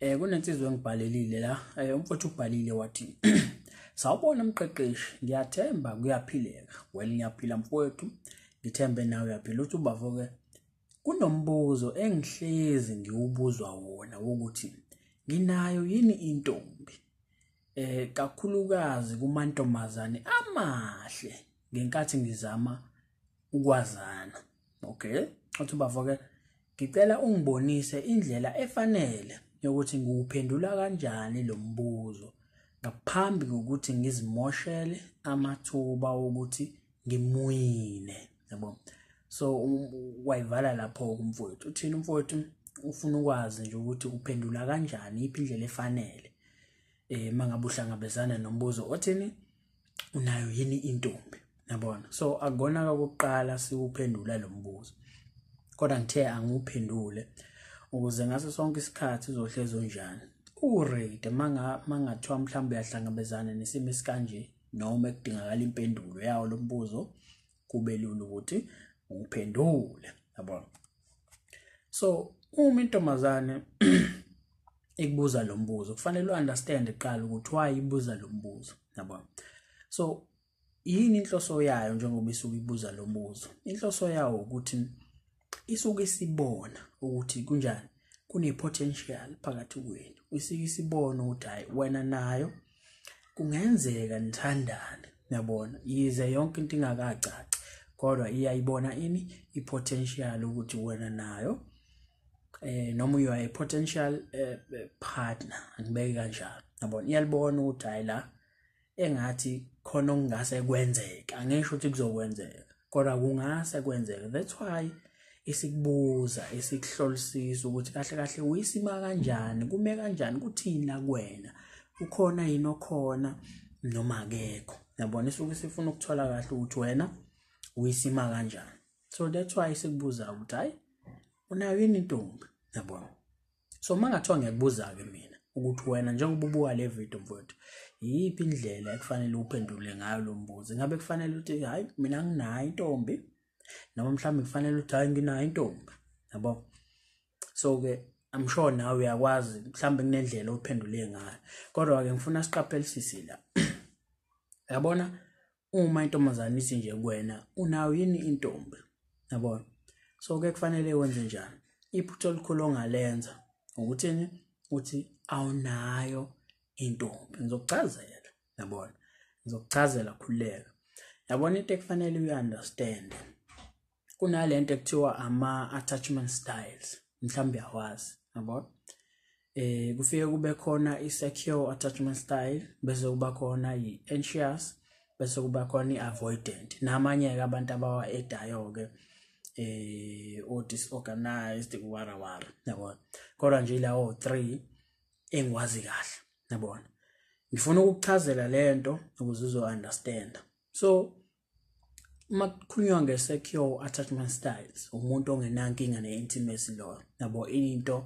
Eh kunensizwe engibhalelile la. Eh umfowethu ubhalile wathi Sawubona mqeqeshi, ngiyathemba kuyaphileka. Well ngiyaphila mfowethu, ngithembe nawe uyaphila. Uthi ubafo ke kunombuzo engihlezi ngiwubuzwa wona wokuthi nginayo yini intombi eh kakhulukazi kumantombazane amahle ngenkathi ngizama ukwazana okay uthi bafo ke ngicela ungibonise indlela efanele yokuthi ngiwuphendula kanjani lo mbuzo ngaphambi kokuthi ngizimoshele amathuba wokuthi ngimuwine yabo so wayivala lapho kumfowethu uthini umfowethu ufuna ukwazi nje ukuthi uphendula kanjani iphi indlela efanele eh mangabe uhlangabezana nombuzo othini unayo yini intombi nabona so akona kokuqala siwuphendula lo mbuzo kodwa ngithe anguphendule ukuze ngaso sonke isikhathi uzohlezi unjani uready manga mangathiwa mhlawumbe uyahlangabezana nesimo esikanje noma ekudingakala impendulo yawo lo mbuzo kube lula ukuthi uphendule yabona so uma intombazane ikubuza lo mbuzo kufanele u-understand kuqala ukuthi why ibuza lo mbuzo yabona so yini inhloso yayo njengoba isuke ibuza lo mbuzo inhloso yawo ukuthi isuke isibona ukuthi kunjani kune-potential phakathi kwenu isuke isibona ukuthi hhayi wena nayo kungenzeka nithandane yabona yize yonke into ingakacaci kodwa iyayibona ini i-potential ukuthi wena nayo eh noma you are a potential eh, eh, partner ngibeke kanjalo yabona iyalibona ukuthi hayi la engathi khona okungase kwenzeka angisho ukuthi kuzokwenzeka kodwa kungase kwenzeka that's why isikubuza isikuhlolisisa ukuthi kahle kahle uyisima kanjani kume kanjani kuthini la kuwena ukhona yini okhona noma akekho yabona isuke sifuna ukuthola kahle ukuthi wena uyisima kanjani so that's why sikubuza ukuthi hayi unayo yini intombi yabona so uma ngathiwa ngiyakubuza-ke mina ukuthi wena njengoba ubuka le video mfowethu yiyiphi indlela ekufanele uphendule ngayo lo mbuzo ingabe kufanele uthi hhayi mina nginayo intombi noma mhlawumbe kufanele uthi hhayi nginayo intombi yabo so-ke I'm sure nawe uyakwazi mhlawumbe kunendlela ophendule ngayo kodwa-ke ngifuna siqaphelisise la yabona uma intombazane ithi nje kuwena unayo yini intombi yabona so ke kufanele wenze njani iphutha elikhulu ongalenza ukuthini uthi awunayo intombi ngizokuchazela yabona ngizokuchazela khululeka yabona into ekufanele uyi-understande kunalento ekuthiwa ama attachment styles mhlawumbe uyawazi yabo eh kufike kube khona i-secure attachment style bese kuba khona i-anxious bese kuba khona i-avoidant namanye-ke abantu abawa-edayo-ke eh o-disorganized warawara yabona kodwa nje lawo three engiwazi kahle yabona ngifuna ukukuchazela le nto ukuze uzo-understanda so uma kukhulunywa nge-secure attachment styles umuntu ongenankinga ne-intimacy lo yabo into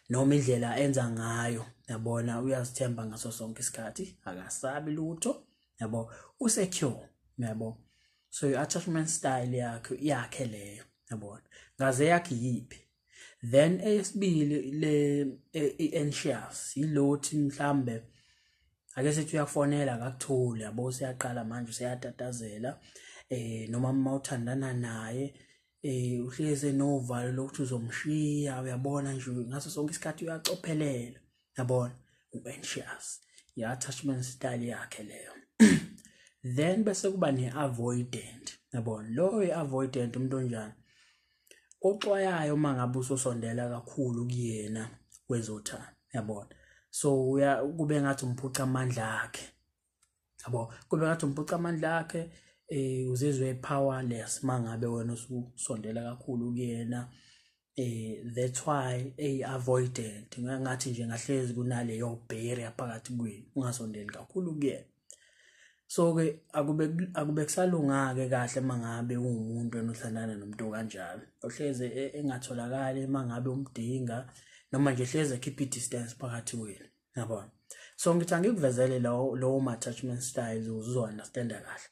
noma indlela enza ngayo yabona uyazithemba ngaso sonke isikhathi akasabi lutho yabo usecure yabo so i-attachment style yakhe yakhe leyo yabona ngaze yakhe yiphi then eyesibili le e, i-anxious yilothi mhlambe ake sethi uyakufonela akakutholi yabo useyaqala manje useyatatazela eh noma uma uthandana naye eh uhlezi enovalo lokuthi uzomshiya uyabona nje ngaso sonke isikhathi uyacophelela yabona u-anxious i-attachment style yakhe leyo then bese kuba ne-avoidant yabona loyo i-avoidant umuntu onjani oxwayayo uma ngabe usosondela kakhulu kuyena kwezothando yabona so uya kube ngathi umphuca amandla akhe yabo kube ngathi umphuca amandla akhe eh uzizwe powerless mangabe wena usondela kakhulu kuyena eh that's why ay avoidant ngathi nje ngahlezi kunaleyo barrier phakathi kwenu ungasondeli kakhulu kuyena so ke akube akube kusalungake kahle mangabe ungumuntu enothandana nomuntu kanjalo ohleze e, engatholakali mangabe umdinga noma nje hleze keep i distance phakathi wena yabona so ngithi angikuvezele lowo lowo attachment styles uzo understand kahle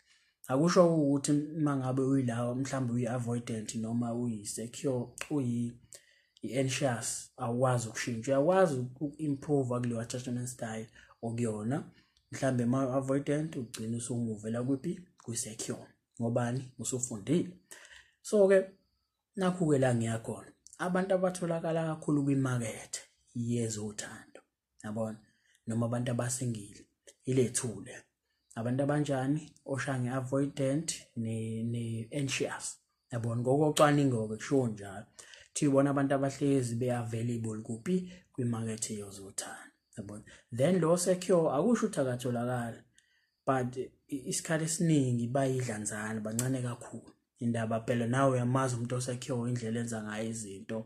akusho ukuthi uma ngabe uyilawa mhlawumbe uyi-avoidant noma uyi-secure uyi-anxious awukwazi ukushintsha uyakwazi uku-improva kuleyo attachment style okuyona mhlawumbe uma u-avoidant ugcina usumuvela kuphi kwi-secure ngobani usufundile so-ke nakhu-ke la ngiyakhona abantu abatholakala kakhulu kwimakethe yezothando yabona noma abantu abasingile ilethule abantu abanjani oshange avoidant ne ne anxious yabona ngokocwaningo ke kusho njalo thi bona abantu abahlezi be available kuphi kwi market yozothanda yabona then lo secure akusho ukuthi akatholakala but isikhathi esiningi bayidlanzana bancane kakhulu indaba phela nawe uyamazi umuntu osakhiwe indlela enza ngayo izinto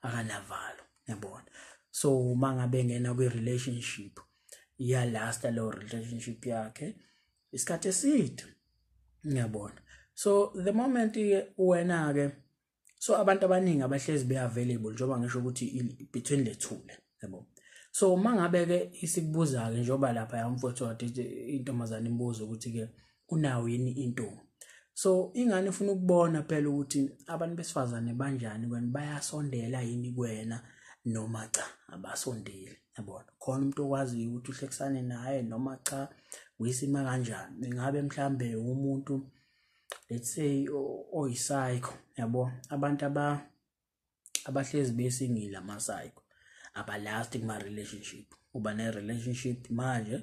akanavalo yabona so uma ngabe ngena kwi-relationship iyalasta leyo relationship yakhe isikhathi eside ngiyabona so the moment wena-ke so abantu abaningi abahlezi be available njengoba ngisho ukuthi between the two le yabo so uma ngabe ke isikubuza ke njengoba lapha yamfowethu wathi intombazane imbuzo ukuthi ke unawo yini intombi so ingane ufuna ukubona phela ukuthi abantu besifazane banjani kwena bayasondela yini kwena noma cha abasondeli yabona khona umuntu okwaziyo ukuthi uhlekisane naye noma cha uyisima kanjani ingabe mhlambe umuntu let's say oyisayikho yabo abantu aba abahlezi besingile amasayikho abalasti kuma relationship uba ne relationship manje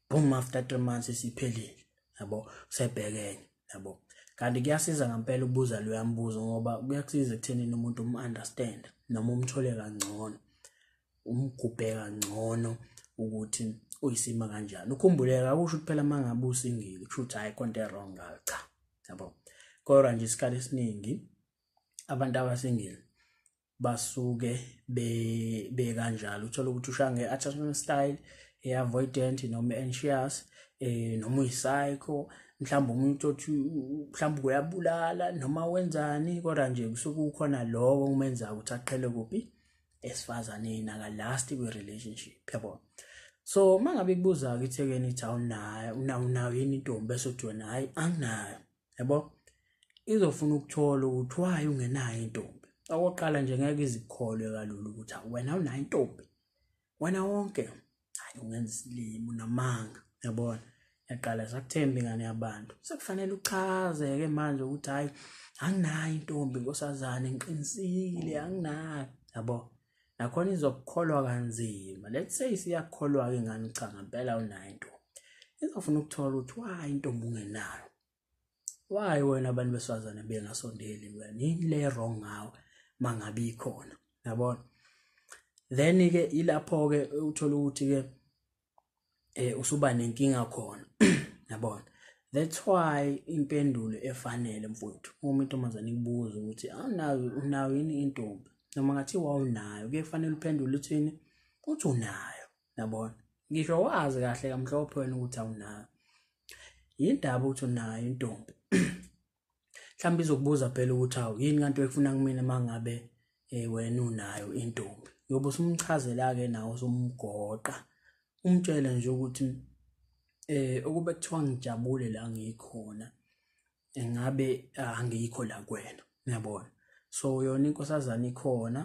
boom after 3 months isiphelile yabo sebhekenye yabo kanti kuyasiza ngempela ukubuza loya mbuzo ngoba kuyakusiza ekutheni umuntu um understand noma umthole kangcono umgubhe kangcono ukuthi uyisima kanjani ukhumbuleka kusho ukuthi phela mangabe usingile kusho ukuthi hayi konto wrong ngayo cha yabo kodwa nje isikhathi esiningi abantu abasingile basuke be be kanjalo uthola ukuthi ushange attachment style e avoidant noma anxious eh noma uyipsycho mhlawumbe umuntu othi mhlawumbe uyabulala noma wenzani kodwa nje kusuke ukhona lokho kumenza ukuthi aqhele kuphi esifazaneni aka last kwi relationship yabo so mangabe kubuza ke ithekeni ithi awunayo unayo yini intombi bese uthi wena hayi anginayo yabo izofuna ukuthola ukuthi waye ungenayo intombi okokuqala nje ngeke izikholwe kalula ukuthi wena unayo intombi wena wonke hayi ungenza isilimo namanga yabona yaqala sakuthemba ingane yabantu sekufanele uchaze-ke manje ukuthi hhayi anginayo intombi nkosazane ngiqinisile anginayo yabo nakhona izokukholwa kanzima let's say siyakholwa-ke ngani cha ngempela unayo intombi izofuna ukuthola ukuthi wayi intombi ungenayo why wena abantu besifazane bengasondeli wena yini le wrong ngawe mangabe ikhona yabona then ke ilapho ke uthola ukuthi ke eh usuba nenkinga khona yabona that's why impendulo efanele mfowethu uma intombazane ikubuza ukuthi awunayo ah, unayo yini intombi noma ngathi wawunayo kuye kufanele uphendule uthini uthi unayo yabona ngisho wazi kahle kamhlophe wena ukuthi awunayo yindaba ukuthi unayo intombi mhlawumbe izokubuza phela ukuthi awu yini kanti oyifuna kumina uma ngabe eh, wena unayo intombi yobe usumchazela-ke nawo usumgoqa umtshele nje ukuthi eh ukube kuthiwa ngijabule la ngikhona engabe ah, angikho la kwena uyabona so yona inkosazana ikhona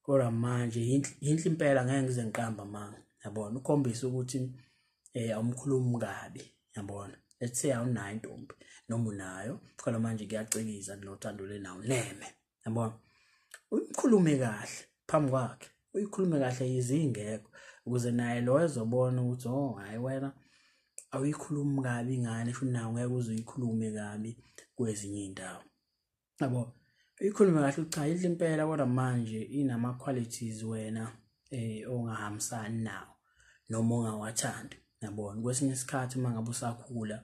kodwa manje yinhle impela ngeke ngize ngiqamba manga yabona ukhombisa ukuthi eh awumkhulumi kabi yabona let's say awunayo intombi noma unayo kodwa manje kuyacikiza kunothando lenawo neme yabona uyikhulume kahle phambi kwakhe uyikhulume kahle yizingekho ukuze naye lo ezobona ukuthi oh hayi wena awuyikhulumi kabi ingane sho nawe ngeke uze uyikhulume kabi kwezinye iy'ndawo yabo uyikhulume kahle ukuthi cha yidla impela kodwa manje inama-qualities wena um ongahambisani nawo noma ongawathandi yabona kwesinye isikhathi uma ngabe usakhula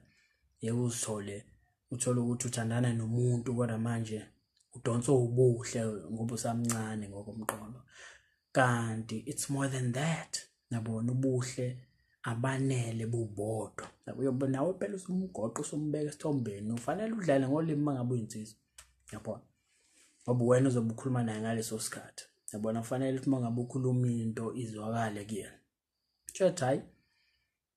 yeke uzithole uthole ukuthi uthandana nomuntu kodwa manje udonswa ubuhle ngoba usamncane ngokomqondo kanti it's more than that nabona ubuhle abanele bubodwa uyobe nawe phela usumgoqo usumbeka esithombeni ufanele udlale ngolimi mangabe uyinsizwa yabona ngoba wena uzobe ukhuluma naye ngaleso sikhathi yabona kufanele ukuthi mangabe ukhuluma into izwakale kuyena Kushuthi hayi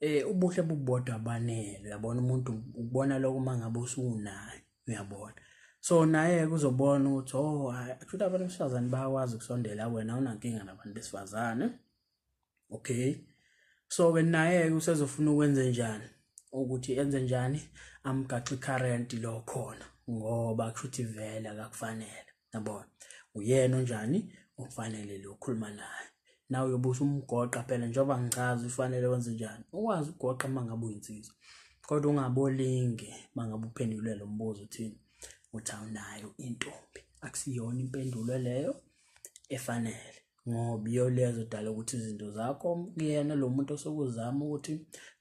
eh ubuhle bubodwa abanele uyabona umuntu ukubona lokho uma ngabe usunayo uyabona so naye kuzobona ukuthi oh kushuthi abantu besifazane bayakwazi ukusondela wena unankinga nabantu besifazane okay so ke naye usezofuna ukwenze njani ukuthi enze njani amgaxi current lo khona ngoba kushuthi vele akakufanele yabona uyena onjani okufanele lo khuluma naye nawe uyobe usumgoqa phela njengoba ngichaza ufanele wenze njani ukwazi ukugoqa uma ngabe uyinsizwa kodwa ungabolinge uma ngabe uphendule lo mbuzo uthini uthi awunayo intombi akusiyona impendulo leyo efanele ngoba iyo le yazodala ukuthi izinto zakho kuyena lo muntu osokuzama ukuthi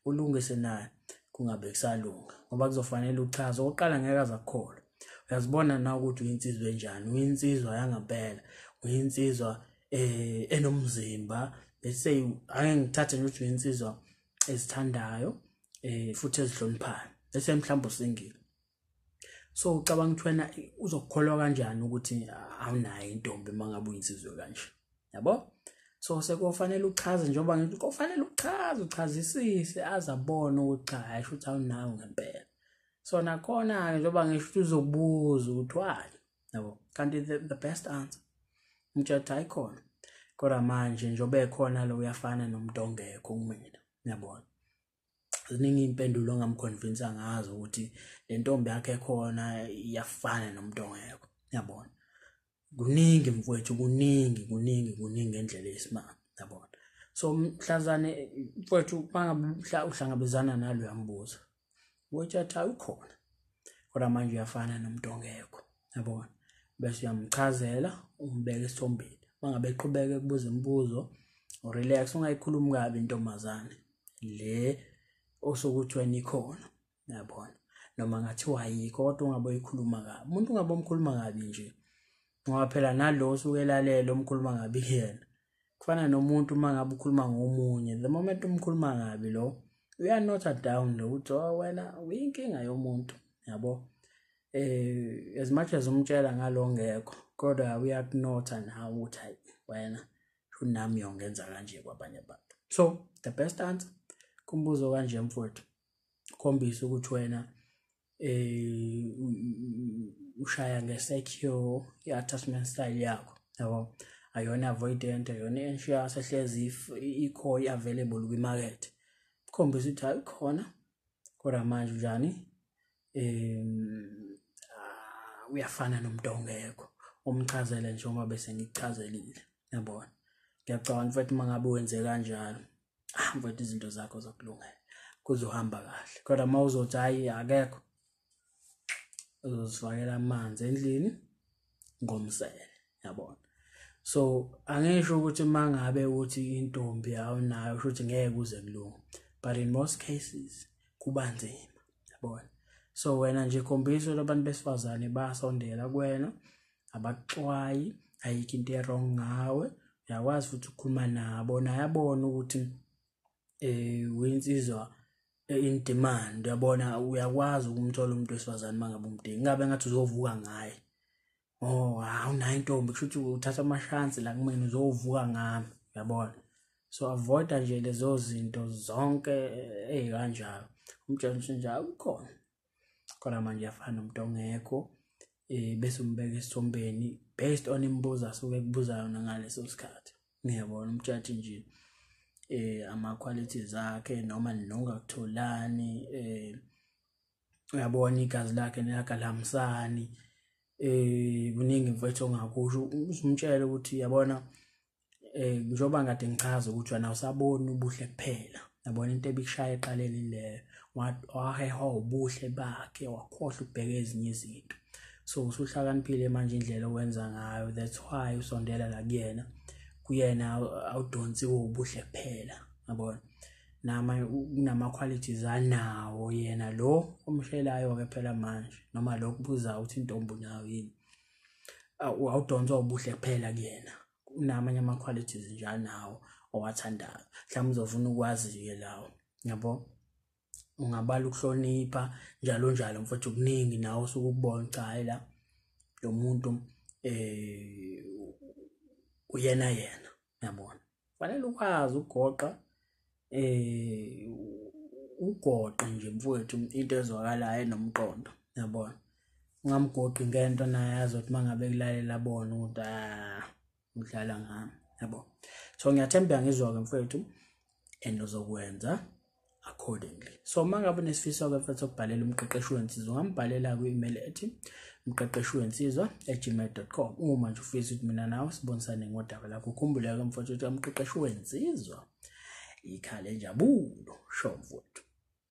ulungise naye kungabe kusalunga ngoba kuzofanele uchaze okokuqala ngeke azakukholwa uyazibona na ukuthi uyinsizwa enjani uyinsizwa yangempela uyinsizwa eh enomzimba let's say ake ngithathe nje ukuthi uyinsizwa ezithandayo eh futhi ezihloniphayo bese mhlawumbe usingile so ucabanga ukuthi wena uzokukholwa kanjani ukuthi awunayo intombi uma ngabe uyinsizwe kanje yabo so sekufanele uchaze njengoba ngithi kufanele uchaze uchazisise azabona ukuthi cha hayi shuthi awunayo ngempela so nakhona-ke njengoba ngisho ukuthi uzobuza ukuthi why yabo kanti the, the best answer umtshela ukuthi hayi khona kodwa manje njengoba ekhona lo uyafana nomuntu ongekho kumina yabona ziningi iy'mpendulo ongamkhonvinsa ngazo ukuthi le ntombi yakhe khona iyafana nomuntu ongekho yabona kuningi mfowethu kuningi kuningi kuningi ngendlela eyisimanga yabona so mhlazane mfowethu mangabe uhlangabezana naloya mbuzo ukuthi athi awukhona kodwa manje uyafana nomuntu ongekho yabona bese uyamchazela umbeke esithombeni mangabe eqhubeke kubuza imibuzo relax ungayikhulumi kabi intombazane le osokuthiwa nikhona yabona noma ngathiwa yikho kodwa ungabe uyikhuluma kabi umuntu ungabe umkhuluma kabi nje ngoba phela nalo osuke elalela umkhuluma kabi kuyena kufana nomuntu uma ngabe ukhuluma ngomunye the moment umkhuluma kabi lo uyanotha down lo uthi oh, wena uyinkinga yomuntu yabo eh as much as umtshela ngalo ngekho kodwa uyakunotha nawe uthi hayi wena unami yongenza kanje kwabanye abantu so the best answer kumbuzo kanje mfowethu khombisa ukuthi wena eh ushaya ngesecure i-attachment style yakho yabo ayona avoidant ayona anxious ehlezi if ikho i-available kwimarket khombisa ukuthi hayi khona kodwa manje njani em ah, uyafana nomuntu ongekho umchazele nje uma bese ngikuchazelile yabona ngiyacabanga mfethu uma ngabe wenze kanjalo ah mfethu izinto zakho zokulungela kuzohamba kahle kodwa uma uzothi hayi akekho uzozifakela amanzi endlini ngomsele yabona so angisho ukuthi mangabe uthi intombi awunayo usho ukuthi ngeke kuze kulunge but in most cases kuba nzima yabona so wena nje khombisa abantu besifazane basondela kuwena abaxwayi ayikho into erong ngawe uyakwazi futhi ukukhuluma nabo naye abone ukuthi eh uyinsizwa eh, in demand uyabona uyakwazi ukumthola umuntu wesifazane mangabe umdingi ingabe ngathi uzovuka ngaye oh awunayo intombi kusho ukuthi uthatha amashansi la kumina uzovuka ngami uyabona so avoida nje lezo zinto zonke ezikanjalo umjantshi nje akukhona khona manje yafana nomuntu ongekho eh bese umbeka esithombeni based on imibuzo asuke ekubuza yona ngaleso sikhathi ngiyabona umjaji nje eh ama qualities akhe noma nongakutholani eh uyabona igazi lakhe nelakalamsani eh kuningi mfethu ongakusho uzumtshela ukuthi yabona eh njoba ngade ngichaza ukuthi wena usabona ubuhle kuphela yabona into ebikushaya eqaleni leyo waheha ubuhle bakhe wakhohlwa ukubheka ezinye izinto so usuhlakaniphile manje indlela owenza ngayo that's why usondela la kuyena kuyena awudonsiwe ubuhle kuphela yabona nama kunama qualities anawo yena lo omshelayo ke phela manje noma lokho buza ukuthi intombi nayo yini awudonswa ubuhle kuphela kuyena kunamanye ama qualities njalo nawo owathandayo mhlawumbe uzofuna ukwazi ke lawo yabo ungabala ukuhlonipha njalo njalo mfowethu kuningi nawe osuke ukubona cha la lo muntu eh uyena yena yabona fanele ukwazi ukugoqa eh ugoqe nje mfowethu into ezwakalayo nomqondo yabona ungamgoqi ngento naye azothi mangabe kulalela bona ukuthi ah udlala ngami yabo so ngiyathemba ngizwa ke mfowethu and uzokwenza accordingly so uma ngabe unesifiso ke mfethu okubhalela umqeqeshi wensizwa ungambhalela kwi-email ethi mqeqeshi wensizwa gmail.com uma nje ufisa ukuthi mina nawe sibonisane ngodaba lakho ukhumbule ke mfethu ukuthi umqeqeshi wensizwa ikhale njabulo sho mfowethu